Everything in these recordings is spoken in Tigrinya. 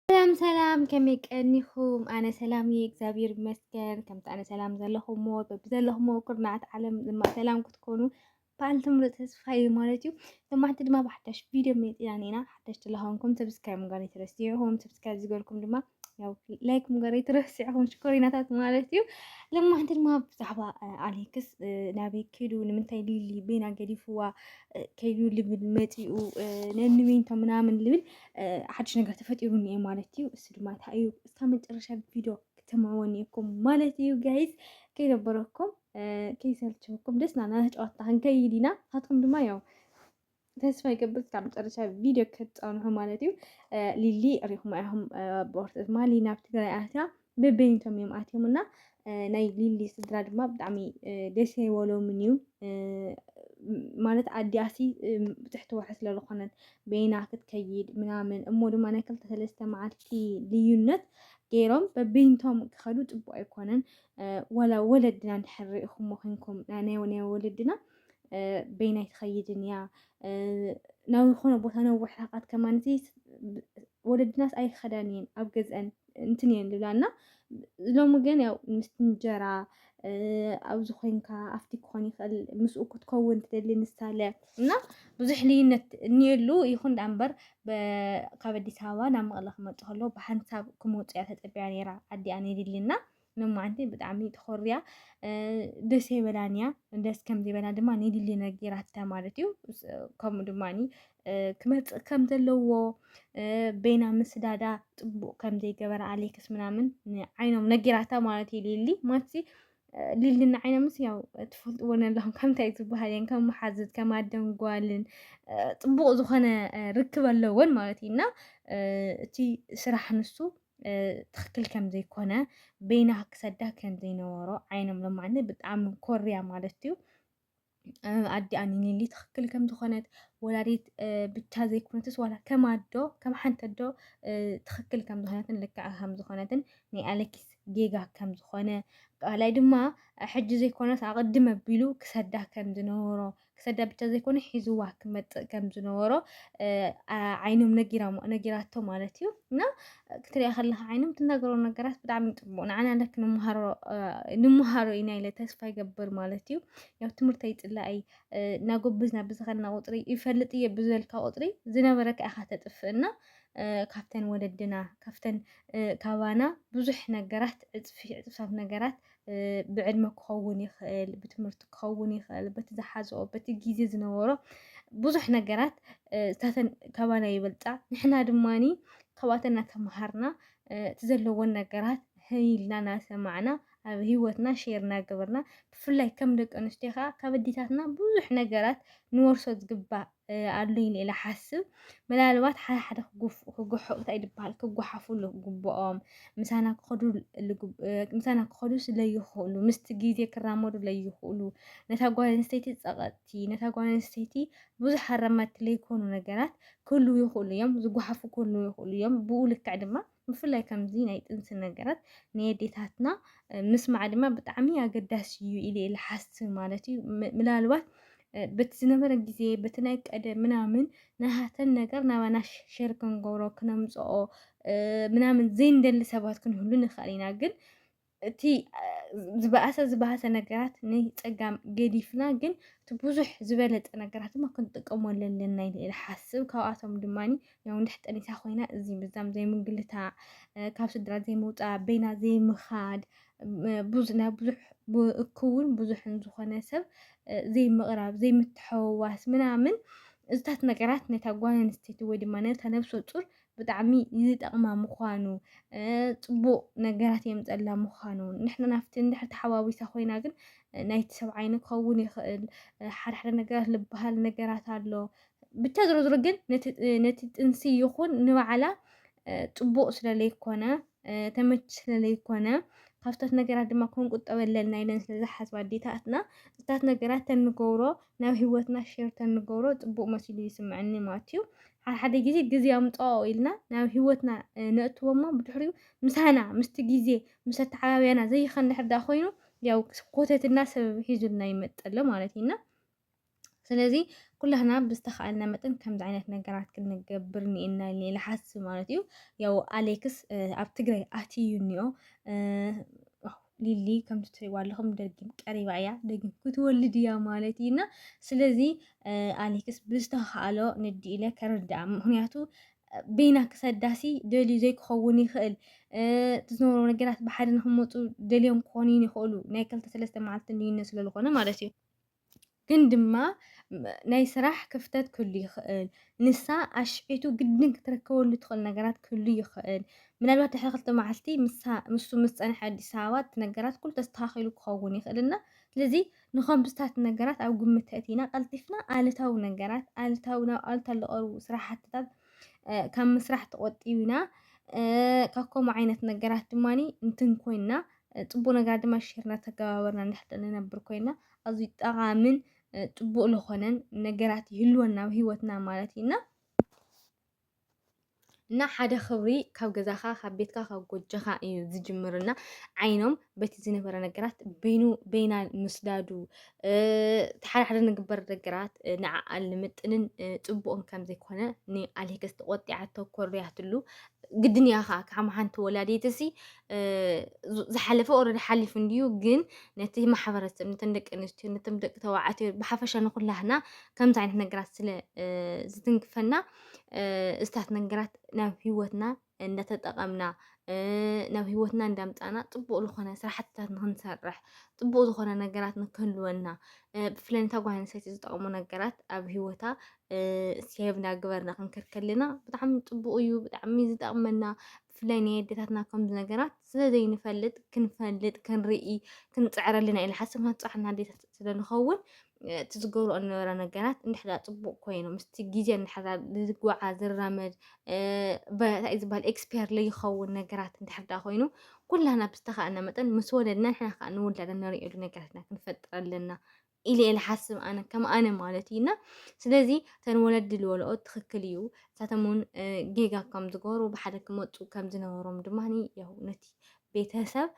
ሰላም ሰላም ከመይ ቀኒኹም? ኣነ ሰላም እየ እግዚኣብሔር ይመስገን። ከምቲ ኣነ ሰላም ዘለኹሞ በብዘለኹሞ ኩርናዓት ዓለም ድማ ሰላም ክትኮኑ በዓልቲ ምሉእ ተስፋ እዩ ማለት እዩ። ሰማዕቲ ድማ ብሓዳሽ ቪድዮ መፂና ኔና ሓዳሽ ተለኾንኩም ሰብስክራይብ ምግባር ኣይትረስዑኹም። ሰብስክራይብ ዝገርኩም ድማ ያው ላይክ ምግባር ኣይትረስዑኹም ሽኮሪናታት ማለት እዩ። ለማሕቲ ድማ ብዛዕባ ኣሌክስ ናበይ ከይዱ ንምንታይ ሊሊ ቤና ገዲፍዋ ከይዱ ልብል መፂኡ ነንቤንቶ ምናምን ልብል ሓድሽ ነገር ተፈጢሩ እኒኤ ማለት እዩ። እሱ ድማ እንታይ እዩ እስካ መጨረሻ ቪድዮ ክትማወን እየኩም ማለት እዩ ጋይዝ ከይደበረኩም ከይሰልችኩም ደስ ናና ጨዋታ ክንከይድ ኢና። ንሳትኩም ድማ ያው ተስፋ ይገብር እስካብ መጨረሻ ቪድዮ ክትፀንሑ ማለት እዩ። ሊሊ ሪኹም ኢኹም ብወርጢ ድማ ሊና ኣብ ትግራይ ኣትያ ብብይንቶም እዮም ኣትዮም እና ናይ ሊሊ ስድራ ድማ ብጣዕሚ ደስ ኣይበሎምን እዩ ማለት ኣዲኣሲ ትሕቲ ወርሒ ስለ ዝኾነት በይና ክትከይድ ምናምን እሞ ድማ ናይ ክልተ ሰለስተ መዓልቲ ልዩነት ገይሮም በብይንቶም ክኸዱ ፅቡቅ ኣይኮነን ዋላ ወለድና እንድሕር ሪኢኹሞ ኮንኩም ናይ ናይ ወለድና በይናይ ትኸይድን እያ ናብ ዝኾነ ቦታ ነዊሕ ርሕቀት ከማን ወለድናስ ኣይኸዳን እየን ኣብ ገዝአን እንትን እየን ዝብላ እና ሎሚ ግን ያው ምስ እንጀራ ኣብዚ ኮንካ ኣብቲ ክኾን ይኽእል ምስኡ ክትከውን ትደሊ ንሳለ እና ብዙሕ ልዩነት እኒኤሉ ይኹን ዳኣ እምበር ካብ ኣዲስ ኣበባ ናብ መቐለ ክመፅእ ከሎ ብሓንሳብ ክመፁ እያ ተፀቢያ ነይራ ኣዲኣ ነዲሊ እና ንማዓንቲ ብጣዕሚ ተኾርያ ደስ ኣይበላን እያ ደስ ከም ዘይበላ ድማ ንሊሊ ነጊራታ ማለት እዩ ከምኡ ድማ ክመፅእ ከም ዘለዎ ቤና ምስዳዳ ፅቡቅ ከም ዘይገበረ ኣሌክስ ምናምን ንዓይኖም ነጊራታ ማለት እዩ ሊሊ ማለትሲ ሊሊ ንዓይኖምስ ያው ትፈልጥዎ ኣለኹም ከምታይ ዝበሃል እየን ከም መሓዝት ከም ኣደን ጓልን ፅቡቅ ዝኾነ ርክብ ኣለወን ማለት እዩ እና እቲ ስራሕ ንሱ ትኽክል ከም ዘይኮነ በይና ክሰዳ ከም ዘይነበሮ ዓይኖም ለማኒ ብጣዕሚ ኮርያ ማለት እዩ ኣዲኣ ኒኒሊ ትኽክል ከም ዝኾነት ወላዲት ብቻ ዘይኮነትስ ዋላ ከም ኣዶ ከም ሓንቲ ኣዶ ትኽክል ከም ዝኾነትን ልክዕ ከም ዝኾነትን ናይ ኣለኪስ ጌጋ ከም ዝኾነ ካልኣይ ድማ ሕጂ ዘይኮነስ ኣቐድም ኣቢሉ ክሰዳ ከም ዝነበሮ ክሰዳ ብቻ ዘይኮነ ሒዝዋ ክመፅእ ከም ዝነበሮ ዓይኖም ነጊራቶ ማለት እዩ እና ክትሪያ ከለካ ዓይኖም ትናገሮ ነገራት ብጣዕሚ ፅቡቅ ንዓና ለክ ንምሃሮ ኢና ኢለ ተስፋ ይገብር ማለት እዩ ያው ትምህርቲ ኣይፅላኢ እናጎበዝና ብዝኸና ቁፅሪ ይፈልጥ እየ ብዝበልካ ቁፅሪ ዝነበረካ ኢኻ ተጥፍእና ካብተን ወለድና ካብተን ካባና ብዙሕ ነገራት ዕፅፊ ዕፅፍታት ነገራት ብዕድመ ክኸውን ይኽእል፣ ብትምህርቲ ክኸውን ይኽእል፣ በቲ ዝሓዝኦ በቲ ግዜ ዝነበሮ ብዙሕ ነገራት እታተን ካባና ይበልፃ። ንሕና ድማኒ ካብኣተን እናተምሃርና እቲ ዘለዎን ነገራት ህይ ኢልና እናሰማዕና ኣብ ህይወትና ሼር እናገበርና ብፍላይ ከም ደቂ ኣንስትዮ ከዓ ካብ ኣዴታትና ብዙሕ ነገራት ንወርሶ ዝግባእ ኣሉኝ ኢለ ሓስብ ምናልባት ሓደ ሓደ ክጉሕቁ ታይ ድበሃል ክጓሓፉ ልግብኦም ምሳና ክኸዱ ምሳና ክኸዱ ስለይኽእሉ ምስቲ ግዜ ክራመዱ ለይኽእሉ ነታ ጓል ኣንስተይቲ ጸቐጥቲ ነታ ጓል ኣንስተይቲ ብዙሕ ኣራማድቲ ለይኮኑ ነገራት ክህልው ይኽእሉ እዮም ዝጓሓፉ ክህልው ይኽእሉ እዮም ብኡ ልክዕ ድማ ብፍላይ ከምዚ ናይ ጥንሲ ነገራት ንየዴታትና ምስማዕ ድማ ብጣዕሚ ኣገዳሲ እዩ ኢለ እየ ልሓስብ ማለት እዩ ምናልባት በቲ ዝነበረ ግዜ በቲ ናይ ቀደም ምናምን ናሃተን ነገር ናባና ሸር ክንገብሮ ክነምፅኦ ምናምን ዘይንደሊ ሰባት ክንህሉ ንኽእል ኢና ግን እቲ ዝበኣሰ ዝበሃሰ ነገራት ናይ ፀጋም ገዲፍና ግን እቲ ብዙሕ ዝበለፀ ነገራት ድማ ክንጥቀመሉ ኣለና ኢለ ይሓስብ ካብኣቶም ድማ ያው እንድሕ ጠኒሳ ኮይና እዚ ምዛም ዘይምንግልታዕ ካብ ስድራ ዘይምውፃእ በይና ዘይምኻድ ናይ ብዙሕ እክውን ብዙሕን ዝኾነ ሰብ ዘይምቕራብ ዘይምትሐወዋስ ምናምን እዚታት ነገራት ነታ ጓል ኣንስተይቲ ወይ ድማ ነታ ነብሰ ፁር ብጣዕሚ ዝጠቕማ ምዃኑ ፅቡቕ ነገራት የምፀላ ምዃኑ ንሕና ናብቲ እንድሕር ተሓዋዊሳ ኮይና ግን ናይቲ ሰብ ዓይኒ ክኸውን ይኽእል ሓደ ሓደ ነገራት ልበሃል ነገራት ኣሎ ብቻ ዝሮ ዝሮ ግን ነቲ ጥንሲ ይኹን ንባዕላ ፅቡቕ ስለ ለይኮነ ተመች ስለ ለይኮነ ካብታት ነገራት ድማ ክንቁጠበለን ናይለን ስለ ዝሓስባ ኣዴታትና እታት ነገራት ተንገብሮ ናብ ሂወትና ሼር ተንገብሮ ጽቡቅ መሲሉ ይስምዐኒ ማትዩ ሓሓደ ግዜ ግዜ ኣምጽኦ ኢልና ናብ ሂወትና ነእትዎ እሞ ብድሕሪኡ ምሳና ምስቲ ግዜ ምስ ኣተዓባብያና ዘይኸን ድሕር ዳ ኮይኑ ያው ኮተትና ሰበብ ሒዙልና ይመጽእ ኣሎ ማለት እዩ እና ስለዚ ኩላህና ብዝተኻእልና መጠን ከምዚ ዓይነት ነገራት ክንገብር ኒኤና ኢለ ይሓስብ ማለት እዩ ያው ኣሌክስ ኣብ ትግራይ ኣትዩ እኒኦ ሊሊ ከምቲ ትሪእዋ ኣለኹም ደጊም ቀሪባ እያ ደጊም ክትወልድ እያ ማለት እዩ እና ስለዚ ኣሌክስ ብዝተኸኣሎ ንዲ ኢለ ከርድኣ ምክንያቱ በይና ክሰዳሲ ደልዩ ዘይክኸውን ይኽእል ትዝነበሮ ነገራት ብሓደ ንክመፁ ደልዮም ክኾኑ ይኽእሉ ናይ ክልተ ሰለስተ መዓልቲ ልዩነት ስለዝኾነ ማለት እዩ ግን ድማ ናይ ስራሕ ክፍተት ክህሉ ይኽእል። ንሳ ኣሽዒቱ ግድን ክትረከበሉ ትኽእል ነገራት ክህሉ ይኽእል። ምናልባት ድሕሪ ክልተ መዓልቲ ንሱ ምስ ፀንሐ ኣዲስ ኣበባ እቲ ነገራት ኩሉ ተስተኻኺሉ ክኸውን ይኽእል እና ስለዚ ንከምስታት ነገራት ኣብ ግምት ተእቲና ቀልጢፍና ኣሉታዊ ነገራት ኣሉታዊ ናብ ኣሉታ ዝቐርቡ ስራሕትታት ካብ ምስራሕ ተቖጢብና ካብ ከምኡ ዓይነት ነገራት ድማ ንትን ኮይንና ፅቡቅ ነገር ድማ ሼር እናተገባበርና ንሕጠ ንነብር ኮይና ኣዝዩ ጠቓምን ፅቡቅ ዝኾነን ነገራት ይህልወና ኣብ ሂወትና ማለት እዩ እና እና ሓደ ክብሪ ካብ ገዛኻ ካብ ቤትካ ካብ ጎጆኻ እዩ ዝጅምርና ዓይኖም በቲ ዝነበረ ነገራት በይኑ በይና ምስዳዱ ሓደ ሓደ ንግበር ነገራት ንዓኣል ንምጥንን ፅቡቕን ከም ዘይኮነ ንኣሌክስ ተቆጢዓቶ ኮርያትሉ ግድን እያ ከዓ ከም ሓንቲ ወላዲትሲ ዝሓለፈ ኦረዲ ሓሊፉ እንድዩ ግን ነቲ ማሕበረሰብ ነተን ደቂ ኣንስትዮ ነቶም ደቂ ተባዕትዮ ብሓፈሻ ንኩላህና ከምዚ ዓይነት ነገራት ስለ ዝትንክፈና እስታት ነገራት ናብ ሂወትና እንዳተጠቐምና ናብ ሂወትና እንዳምፃና ፅቡቅ ዝኾነ ስራሕትታት ንክንሰርሕ ፅቡቅ ዝኾነ ነገራት ንክህልወና ብፍላይ ነታ ጓል ኣንስተይቲ ዝጠቕሙ ነገራት ኣብ ሂወታ ሴቭ እናገበርና ክንከድ ከለና ብጣዕሚ ፅቡቅ እዩ ብጣዕሚ ዝጠቕመና ብፍላይ ናይ ኣዴታትና ከምዚ ነገራት ስለ ዘይንፈልጥ ክንፈልጥ ክንርኢ ክንፅዕር ኣለና ኢለ ሓሰብ ንፃዕና ኣዴታት ስለ ንኸውን እቲ ዝገብሮ እነበረ ነገራት እንድሕዳ ፅቡቅ ኮይኑ ምስቲ ግዜ እንድሕዳ ዝጓዓ ዝራመድ እንታይ እዩ ዝበሃል ኤክስፔር ለይኸውን ነገራት እንድሕዳ ኮይኑ ኩላና ብዝተኻእና መጠን ምስ ወለድና ንሕና ከዓ ንውላዳ ንሪእሉ ነገራትና ክንፈጥር ኣለና ኢለ እየ ልሓስብ ኣነ ከም ኣነ ማለት እዩ እና ስለዚ እተን ወለዲ ልበልኦ ትኽክል እዩ እሳቶም እውን ጌጋ ከም ዝገበሩ ብሓደ ክመፁ ከም ዝነበሮም ድማ ያው ነቲ ቤተሰብ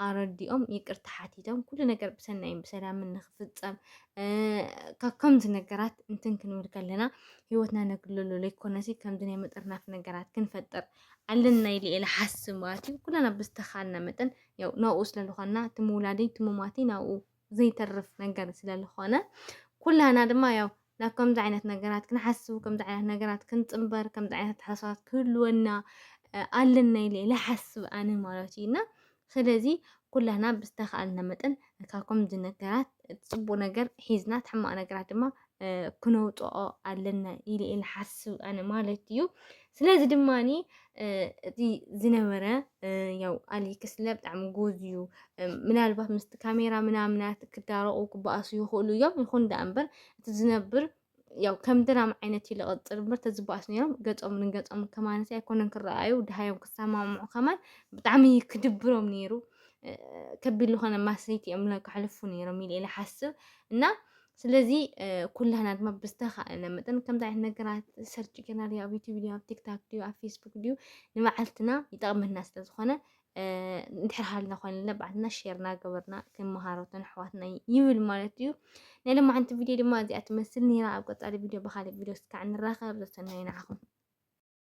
ኣረዲኦም ይቅርታ ሓቲቶም ኩሉ ነገር ብሰናይን ብሰላምን ንክፍፀም ካብ ከምዚ ነገራት እንትን ክንብል ከለና ህይወትና ነግልሎ ዘይኮነሲ ከምዚ ናይ መጠርናፍ ነገራት ክንፈጥር ኣለና ኢለ እየ ልሓስብ ማለት እዩ ኩላና ብዝተኻልና መጠን ያው ናብኡ ስለዝኾንና እቲ ምውላደይ እቲ ምሟተይ ናብኡ ዘይተርፍ ነገር ስለ ዝኾነ ኩላህና ድማ ያው ናብ ከምዚ ዓይነት ነገራት ክንሓስቡ ከምዚ ዓይነት ነገራት ክንፅምበር ከምዚ ዓይነት ኣተሓሳስባት ክህልወና ኣለና ኢለ ልሓስብ ኣነ ማለት እዩ እና ስለዚ ኩላህና ብዝተኸኣልና መጠን ካብ ከምዚ ነገራት ፅቡቅ ነገር ሒዝና ሕማቅ ነገራት ድማ ክነውፅኦ ኣለና ኢለ እየ ንሓስብ ኣነ ማለት እዩ ስለዚ ድማኒ እቲ ዝነበረ ያው ኣሌክስ ለ ብጣዕሚ ጎዝ እዩ ምናልባት ምስቲ ካሜራ ምናምናት ክዳረቑ ክበኣሱ ይኽእሉ እዮም ይኹን ዳኣ እምበር እቲ ዝነብር ያው ከም ድራማ ዓይነት እዩ ዝቕፅል እምበር ተዝበኣሱ ነይሮም ገፆም ንገፆም ከማለት ኣይኮነን ክረኣዩ ድሃዮም ክሰማምዑ ከማን ብጣዕሚ ክድብሮም ነይሩ ከቢድ ዝኾነ ማስሪት እዮም ከሕልፉ ነይሮም ኢለ እየ ዝሓስብ እና ስለዚ ኩላህና ድማ ብዝተኻእለ መጠን ከምዚ ዓይነት ነገራት ሰርች ጌርና ድዩ ኣብ ዩቲብ ድዩ ኣብ ቲክታክ ድዩ ኣብ ፌስቡክ ድዩ ንመዓልትና ይጠቕመና ስለ ዝኾነ እንድሕር ሃልና ኮይነ ለባዕትና ሼርና ገበርና ክመሃሮትን ኣሕዋትና ይብል ማለት እዩ ናይ ሎማዓንቲ ቪድዮ ድማ እዚኣ ትመስል ነይራ ኣብ ቀፃሊ ቪድዮ ብካሊእ ቪድዮ ስካዕ ንራኸብ ዘሰናይ ንዓኹም